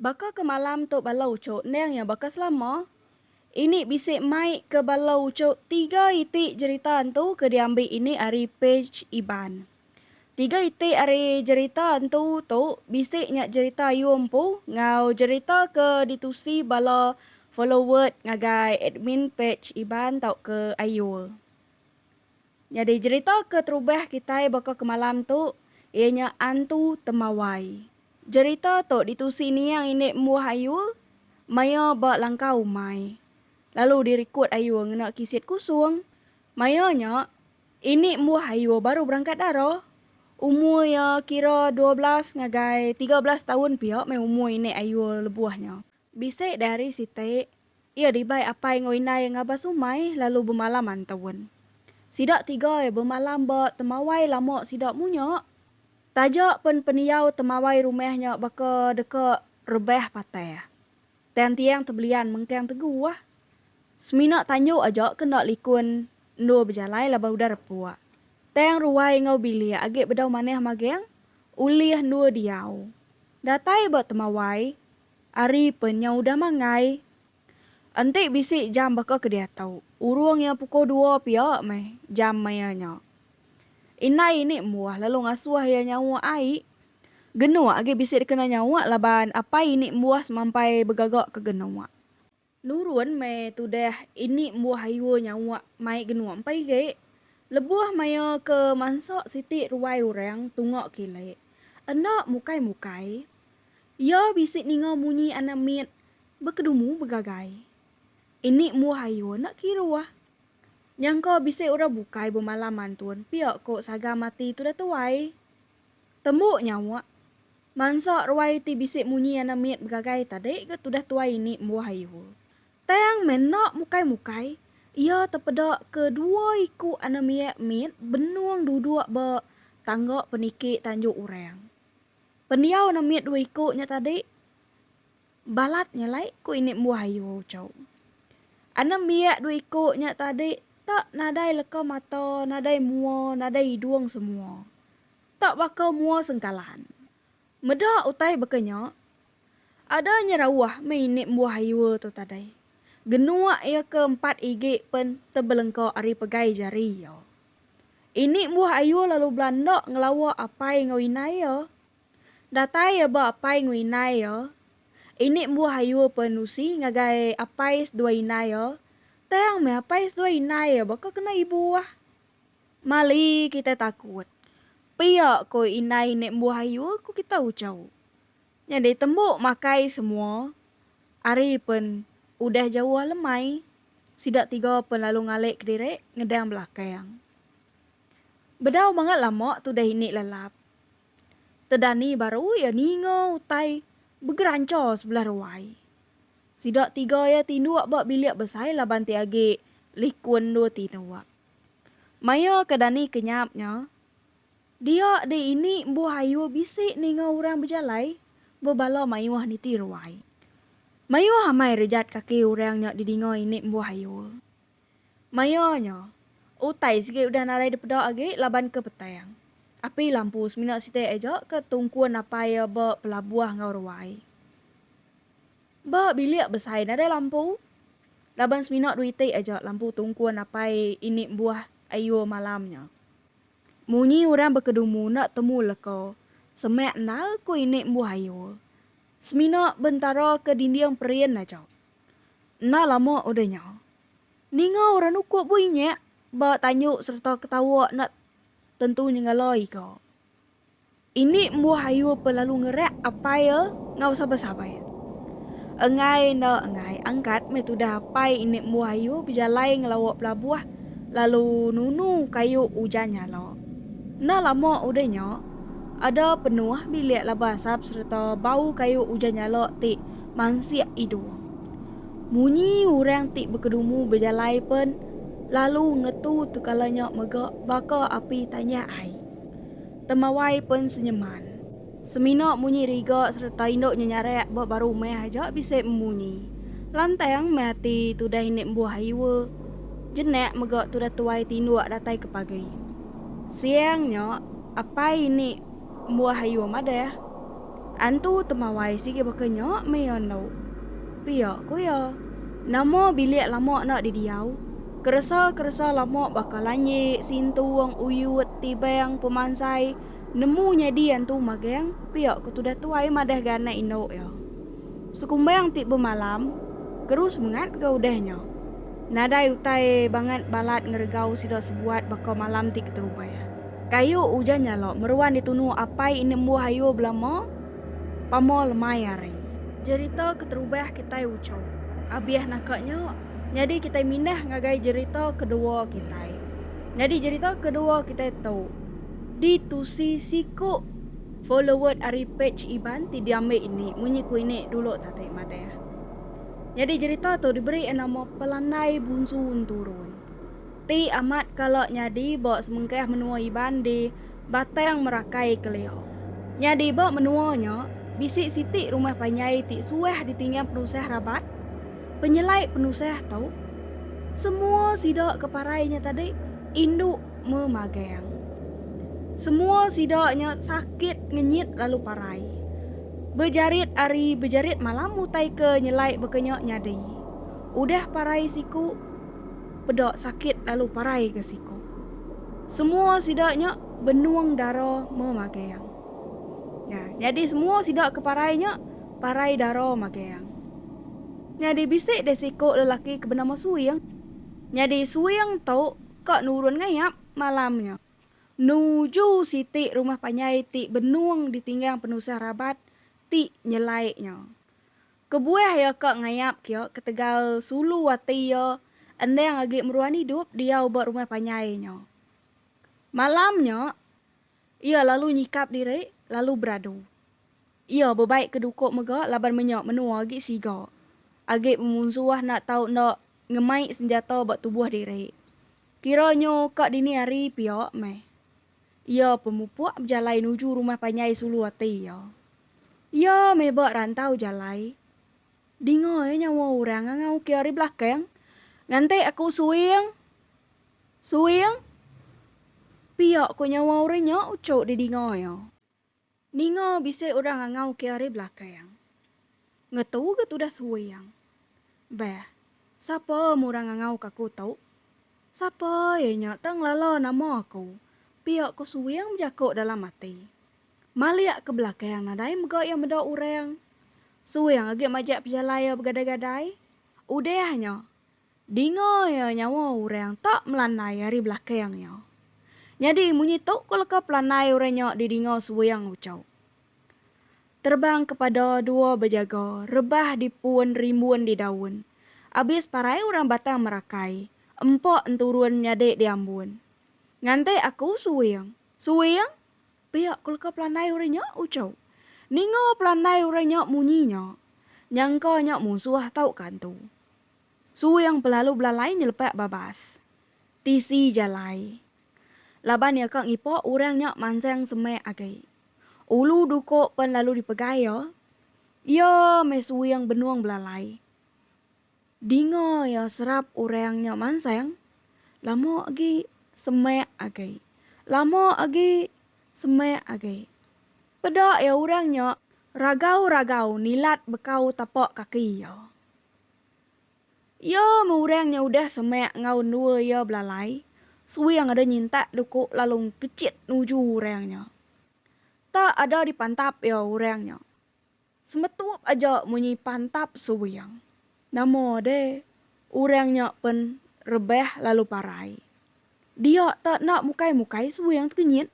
Baka ke malam tu bala ucuk endang iya baka selama. Ini bisi mai ke bala ucuk tiga iti jerita entu ke diambi ini ari pej Iban. Tiga iti ari jerita entu tu bisi nya jerita ayu empu enggau jerita ke ditusi bala followerd ngagai admin pej Iban tauka Ayul. Nyadi jerita ke terubah kitai baka ke malam tu iya nya Antu Temawai. Jerita tu ditusi Niang Indik Embuh Ayu maya ba langkau umai, lalu dirikut Ayu ngena kisit kusung. Maya nya Indik Embuh Ayu baru berangkat dara. Umur iya kira dua belas ngagai tiga belas taun pia meh umur Indik Ayu lebuh nya. Bisi di hari siti, iya dibai apai enggau indai ngabas umai lalu bemalam antaun. Sida tiga iya bemalam ba temawai lama sida munya. Taja pen pendiau temawai rumah nya baka deka rebah patah. Tang tiang tebelian mengkang teguh. Semina tanjok aja ke enda likun endur bejalai laban udah repuk. Tang ruai enggau bilik agi bedau manah magang ulih endur diau. Datai ba temawai, Ari penya udah mangai. Enti bisi jam baka ke diatu. Urung iya pukul dua pia meh jam maya nya. Indai ini embuh lalu ngasuh iya nyauk ai. Genuak agi bisi dikena nyauk laban apai ini embuh semampai begaga ke genuak. Nurun meh tudah ini embuh ayu nyawa mai genung empai ge. Lebuh maya ke mansa siti ruai orang tunga kile. Enda mukai-mukai. Iya bisi ninga munyi anak mit bekedumu begagai. Ini embuh ayu enda kiruh. Nyangka bisi orang bukai bemalam antun pia ko saga mati tudah tuai. Tembu nyawa. Mansa ruai ti bisi munyi anak mit begagai tadi ga tudah tuai ini embuh ayu. Tang meh enda mukai-mukai, iya tepeda ke dua iku anak miak mit benung duduk ba tangga peniki tanjung orang. Pendiau anak mit dua iku nya tadi balat nya alai ku ini embuh ayu Ucho. Anak miak dua iku nya tadi tak nadai leka mata, nadai mua, nadai idung semua. Tak baka mua sengkalan. Meda utai baka nya, ada nyerauh meh ini embuh ayu tu tadai. Genuk iya ke empat igi pen tebelengka ari pegai jari iya. Ini embuh ayu lalu bela enda ngelawa apai enggau inai iya. Datai iya ba apai enggau inai iya, ini embuh ayu pen nusi ngagai apai seduai inai iya, tang meh apai seduai inai iya baka kena ibuh. Mali kitai takut. Pia ko indai nek mbuh ayu ko kitai ucau. Nyadi tembuk makai semua. Ari pen udah jauh alemai. Sida tiga pen lalu ngalek kediri ngedang belakang. Bedau bangat lama tudah ini lelap. Tedani baru iya ninga utai begeranca sebelah ruai. Sida tiga iya tinduk ba bilik besai laban ti agi likun dua tinduk. Maya ke dani kenyap nya, dia deh ini embuh ayu bisi ninga orang bejalai ba bala mayuh niti ruai. Mayuh amai rejat kaki orang nya didinga ini embuh ayu. Maya nya, utai sigi udah nadai dipeda agi laban ke petang. Api lampu semina siti aja ke tungkun apai iya ba pelabuh enggau ruai. Ba bilik besai nadai lampu. Laban semina dua iti aja lampu tungkun apai ini embuh ayur malam nya. Munyi orang bekedumu enda temu leka semak endar ku ini embuh ayur. Semina bentara ke dinding perin aja. Enda lama udah nya, ninga orang nukup bui nyak ba tanjuk sereta ketawa enda tentu nyengala iga. Ini embuh ayu pe lalu ngerak apai e ngau sabai-sabai. Enggai enda enggai angkat meh tudah apai ini embuh ayu bejalai ngelawa pelabuh lalu nunu kayu ujan nyala. Enda lama udah nya, ada penuh bilik laban asap sereta bau kayu ujan nyala ti mansik idung. Munyi orang ti bekedumu bejalai pen lalu ngetu tekala nya mega baka api tanyah ai. Temawai pen senyeman. Semina munyi riga sereta indu nyenyarak ba baru meh aja bisi memunyi. Lantang meh ati tudah indi embuh iwa jenak mega tudah tuai tinduk datai ke pagi. Siang nya, apai indi embuh iwa madah. Antu Temawai sigi baka nya meh endo. Pia ku iya. Nama bilik lama enda didiau? Keresa-keresa lama baka lanji, sintung, uyut, tibang, pemansai nemu nyadi antu magang, pia ku tudah tuai madah ga anak indu iya. Sekumbang ti bemalam terus mengat ga udah nya. Nadai utai bangat balat ngeregau sida sebuat baka malam ti keterubah. Kayu ujan nyalok meruan ditunu apai enda embuh ayu belama pama lemai ari. Jerita keterubah kitai ucho. Abih naka nya, nyadi kitai mindah ngagai jerita kedua kitai. Nyadi jerita kedua kitai tu ditusi siku followed ari page Iban ti diambi ini munyi ku ini dulu tadi madah. Nyadi jerita tu diberi nama Pelandai Bunsu Enturun. Ti amat kala nyadi ba semengkah menua Iban di Batang Merakai kelia. Nyadi ba menua nya, bisi siti rumah panjai ti suah ditinggang penusah rabat, penyelai penusah tu. Semua sida ke parai nya tadi indu memagang. Semua sida nya sakit ngenyit lalu parai. Bejarit ari bejarit malam utai ke nyelai baka nya nyadi. Udah parai siku. peda sakit lalu parai ke siku. Semua sida nya benung dara Memageang. Nya, nyadi semua sida ke parai nya parai dara Mageang. Nyadi bisi deh siku lelaki ke benama Suing. Nyadi Suing tu ka nurun ngayap malam nya nuju siti rumah panjai ti benung ditinggang penusah rabat ti nyelai nya. Kebuah iya ka ngayap kia ketegal sulu ati iya endang agi meruan idup diau ba rumah panjai nya. Malam nya, iya lalu nyikap diri lalu beradu. Iya bebai ke duko mega laban menya menua agi siga agi pemunsuh enda tau enda ngemai senjata ba tubuh diri. Kira nyo ka dini hari pia meh Iya pemupuk bejalai nuju rumah panjai sulu ati iya. Iya meh ba rantau jalai. Dinga iya nyawa orang nganga uki ari belakang. Nganti aku suing. Suing. Pia ko nyawa orang nya uchu di dinga iya. Ninga bisi orang angau ke ari belakang. Ngetu ga tudah suing. Beh, sapa mu orang ngangau ka aku tu? Sapa iya nya tang lala nama aku? pia ko suing bejako dalam ati. Malik ke belakang nadai mega iya meda orang. Suing agi majak pejalai iya begadai-gadai. Udah nya. Dinga iya nyawa orang tak melanai ari belakang iya. Nyadi munyi tu ko leka pelanai orang nya di dinga seweang ucau. Terbang ke pada dua bejaga rebah di pun rimbun di daun. Abis parai orang Batang Merakai, empa enturun nyadi di ambun. Nganti aku seweang. Seweang? Pia ko leka pelanai orang nya ucau. Ninga pelanai orang nya munyi nya. Nyangka nya munsuh tauka entu. Suing belalu belalai nyelepak babas. Tisi jalai. Laban iya ka ngipok orang nya mansang semak agi. Ulu duko pen lalu dipegai iya. Iya meh suing benung belalai. Dinga iya serap orang nya mansang, lama agi semak agi. Lama agi semak agi. Peda iya orang nya ragau-ragau nilat bekau tapak kaki iya. Iya meh orang nya udah semak enggau endua iya belalai, suing ada nyintak duku lalu engkechit nuju orang nya. Tak ada dipantap iya orang nya. Semetup aja munyi pantap suing. Nama deh, orang nya pen rebah lalu parai. Dia te enda mukai-mukai suing tekenyit.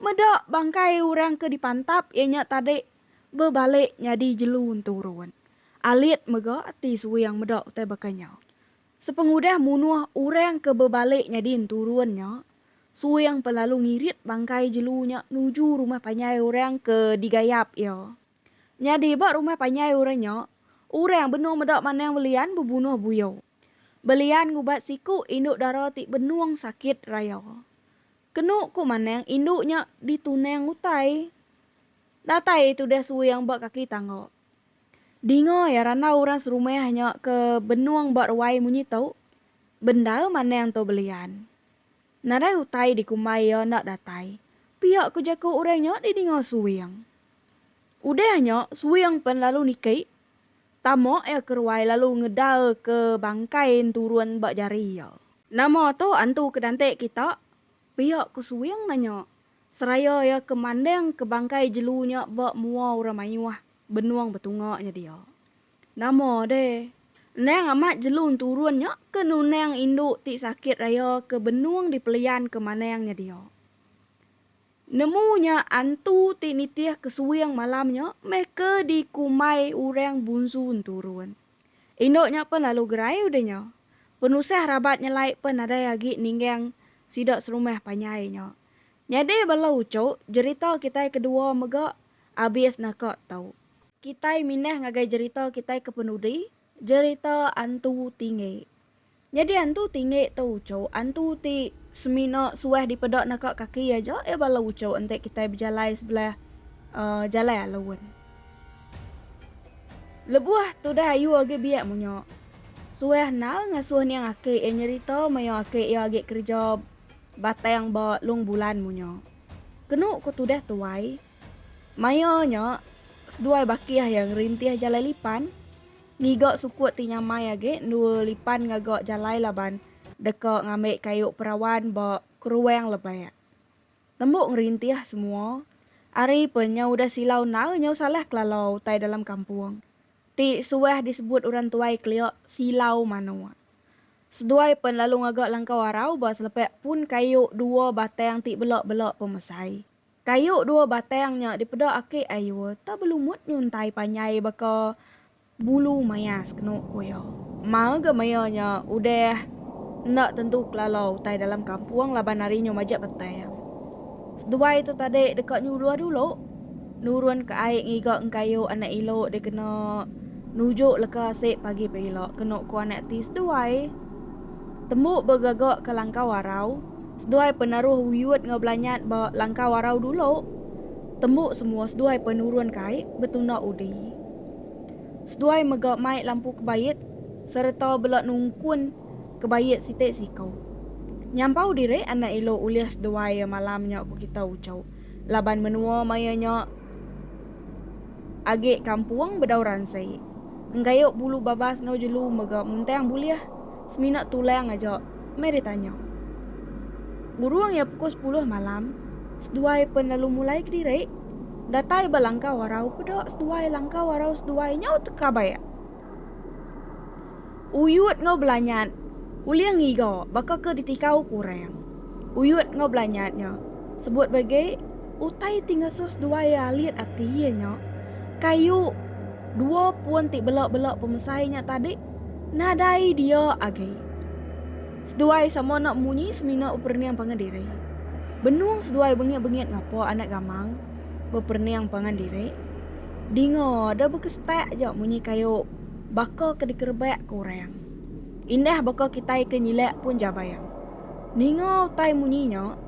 Meda bangkai orang ke dipantap iya nya tadi bebalik nyadi jelu enturun. Alit mega ati suing meda utai baka nya. Sepengudah munuh orang ke bebalik nyadi enturun nya, suing pen lalu ngirit bangkai jelu nya nuju rumah panjai orang ke digayap iya. Nyadi ba rumah panjai orang nya, orang benung meda manang belian bebunuh buyuk. Belian ngubat siku indu dara ti benung sakit raya. Kenu ku Manang indu nya ditunang utai. Datai iya tudah suing ba kaki tangga. Dinga iya randau orang serumah nya ke benung ba ruai munyi tu, bendar Manang tu belian. Nadai utai dikumbai iya enda datai, pia ku jaku orang nya didinga suing. Udah nya suing pen lalu niki. Tama iya ke ruai lalu ngedal ke bangkai en turun ba jari iya. Nama tu antu ke dantik kita? pia ku Suwing nanya seraya iya ke manding ke bangkai jelu nya ba mua orang mayuh benung betunga nya dia. Nama deh. Endang amat jelu enturun nya ke nunang indu ti sakit raya ke benung dipelian ke manang nya dia. Nemu nya antu ti nitih kesuing malam nya meh ke dikumbai orang Bunsu Enturun. Indu nya pen lalu gerai udah nya. Penusah rabat nyelai pen nadai agi ninggang sida serumah panjai nya. Nyadi bala uchu jerita kitai kedua mega abis naka tu. Kitai mindah ngagai jerita kitai ke penudi Jerita Antu Tinggi. Nyadi Antu Tinggi tu uchu antu ti semina suah dipeda naka kaki aja iya bala uchu enti kitai bejalai sebelah uh, jalai alun. Lebuh tudah ayu agi biak munya, suah nal ngasuh niang aki iya nyerita maya aki iya agi kereja batang ba Long Bulan munya. Kenu ku tudah tuai, Maya nya, seduai bakih iya ngerintih jalai lipan ngiga sukut ti nyamai agi endur lipan ngaga jalai laban deka ngambi kayu perawan ba keruang lebak. Tembu ngerintih semua ari pe nyau udah silau endar nyau salah kelala utai dalam kampung ti suah disebut orang tuai kelia silau manuk. Seduai pen lalu ngaga langkau arau ba selepak pun kayu dua batang ti bela-bela pemesai. Kayu dua batang nya dipeda aki Ayuh tau belumut nyuntai panjai baka bulu maya sekenu ku iya. Maul ga maya nya udah enda tentu kelala utai dalam kampung laban ari nyu majak batang. Seduai tu tadi deka nyuluh dulu nurun ke ai ngiga engkayu anak ilu dikena nuju leka sik pagi pila kenu ku anak ti seduai. Tembu begaga ke Langkau Arau, seduai penaruh wiut enggau belanyat ba Langkau Arau dulu. Tembu semua seduai penurun kai betunda udi. Seduai mega mai lampu kebait sereta bela nungkun kebait siti siku. Nyampau diri enda elo ulih seduai malam nya ku kita uchu. laban menua maya nya agi kampung bedau ransi. Enggayuh bulu babas enggau jelu mega muntang bulih semina tulang aja, Mary tanya. Burung iya pukul sepuluh malam, seduai pen lalu mulai kediri. Datai ba langkau arau peda seduai langkau arau seduai nyau teka baik. Uyut enggau belanyat ulih ngiga baka ke ditikau ku orang. Uyut enggau belanyat nya sebut ba agi utai ti ngesus dua iya alit ati iya nya kayu dua pun ti bela-bela pemesai nya tadi nadai dia agi. Seduai sama enda munyi semina beperening pangan diri. Benung seduai bengit-bengit ngapa anak gamang beperening pangan diri Dinga da baka setak ja munyi kayu baka ke dikerebak ke orang. Indah baka kitai ke nyilak pun jabayang. Ninga utai munyi nya,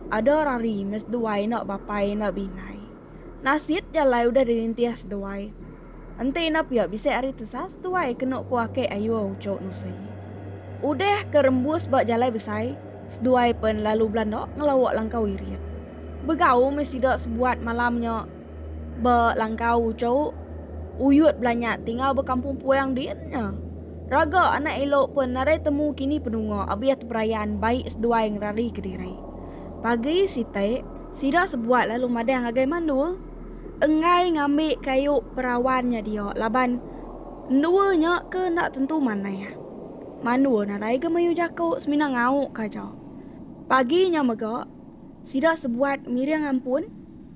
ada orang rima seduai enda bapai enda beindai. Nasit ja alai udah dirintih seduai. Enti enda pia bisi ari tesa seduai kena ku ake Ayuh Ucho Nusi. Udah ke rembus ba jalai besai, seduai pen lalu belanda ngelawa langkau irit. Begau meh sida sebuat malam nya. Ba langkau uchu, Uyut Belanyat ti ngau ba Kampung Puang din nya. Raga anak elo pun nadai temu kini penunga abih teperayan bai seduai ngerari kediri. Pagi siti, sida sebuat lalu madah ngagai mandul enggai ngambi kayu perawan nya dia laban endua nya ke enda tentu manah. Mandul nadai ga mayuh jaku semina ngau ka aja. Pagi nya mega, sida sebuat miring ampun.